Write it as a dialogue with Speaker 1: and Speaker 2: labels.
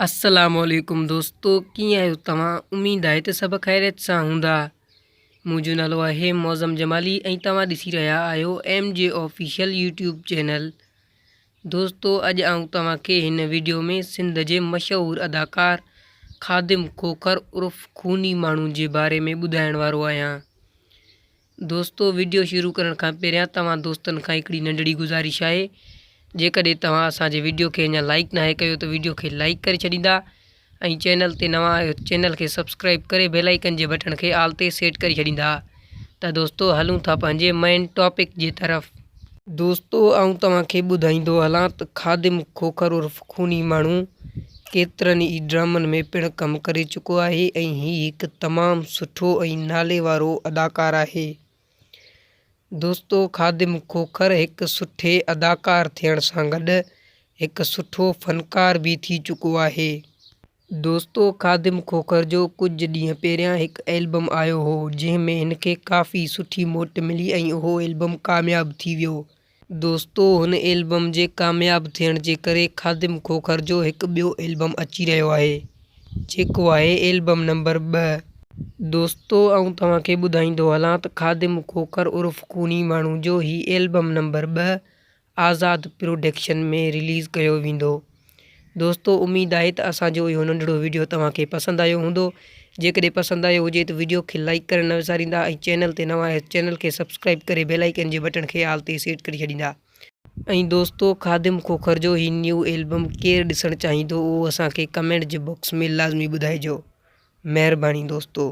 Speaker 1: السلام عليڪم دوستو ڪيئن آهيو توهان اميد آهي ته سڀ خيريت سان هوندا منهنجو نالو آهي معظم جمالي ۽ توهان ڏسي رهيا آهيو M G official YouTube channel دوستو اڄ آئون توهان کي هن ويڊيو ۾ سنڌ جي مشهور اداڪار خادم کوکر عرف خوني ماڻهو جي باري ۾ ٻڌائڻ وارو آهيان دوستو وڊيو شروع ڪرڻ کان پهريان توهان دوستن کان هڪڙي ننڍڙي گذارش آهي جيڪڏهن توهان اسان جي وڊيو کي اڃا لائيڪ ناهي ڪيو ته وڊيو کي لائيڪ ڪري ڇڏيندا ۽ چينل تي نوان آهيو ته چينل کي سبسڪرائيب ڪري بيل آئيڪن جي بٽڻ کي آل تي سيٽ ڪري ڇڏيندا ته دوستو هلون ٿا پنهنجي مين ٽاپڪ جي طرف. دوستو آئون توهان کي ٻڌائيندو هلان ته خادم کوکر عرف خوني ماڻهو ڪيترن ئي ڊرامن ۾ پڻ ڪم ڪري چڪو آهي ۽ هي هڪ تمام سٺو ۽ نالي وارو اداڪار آهي. دوستو خادم کوکر هڪ سٺي اداڪار ٿيڻ سان گڏ هڪ سٺو فنڪار به ٿي چڪو آهي. دوستو خادم کوکر جو ڪجهه ڏينهن پهريان هڪ البم آيو هو جنهن ۾ هن کي ڪافي سٺي موٽ ملي ۽ اهو البم ڪامياب ٿي ويو. دوستو هن البم جي ڪامياب ٿيڻ جي ڪري خادم کوکر جو هڪ ٻيو البم اچي رهيو آهي جيڪو آهي البم نمبر ٻه. دوستو آئون توهان کي ٻڌائيندو هلان ته خادم کوکر عرف خوني ماڻهو جو هي البم نمبر ٻه آزاد پروڊڪشن ۾ رليز ڪيو ويندو. دوستو اميد آهي ته اسان جو اهو ننڍڙو وڊيو توهان کي پسند آيو هوندو. جيڪڏهن پسند آيو هجي ته وڊيو کي لائيڪ ڪرڻ نه وساريندا ۽ چينل تي نوان آهيو ته چينل کي سبسڪرائيب ڪري بيل آئيڪن جي بٽڻ کي آل تي سيٽ ڪري ڇڏيندا. ۽ دوستو خادم کوکر جو هي نيو البم ڪير ڏسڻ چاهيندو اهو اسان کي ڪمينٽ جي باڪس ۾ لازمي ٻڌائجو. مهرباني دوستو.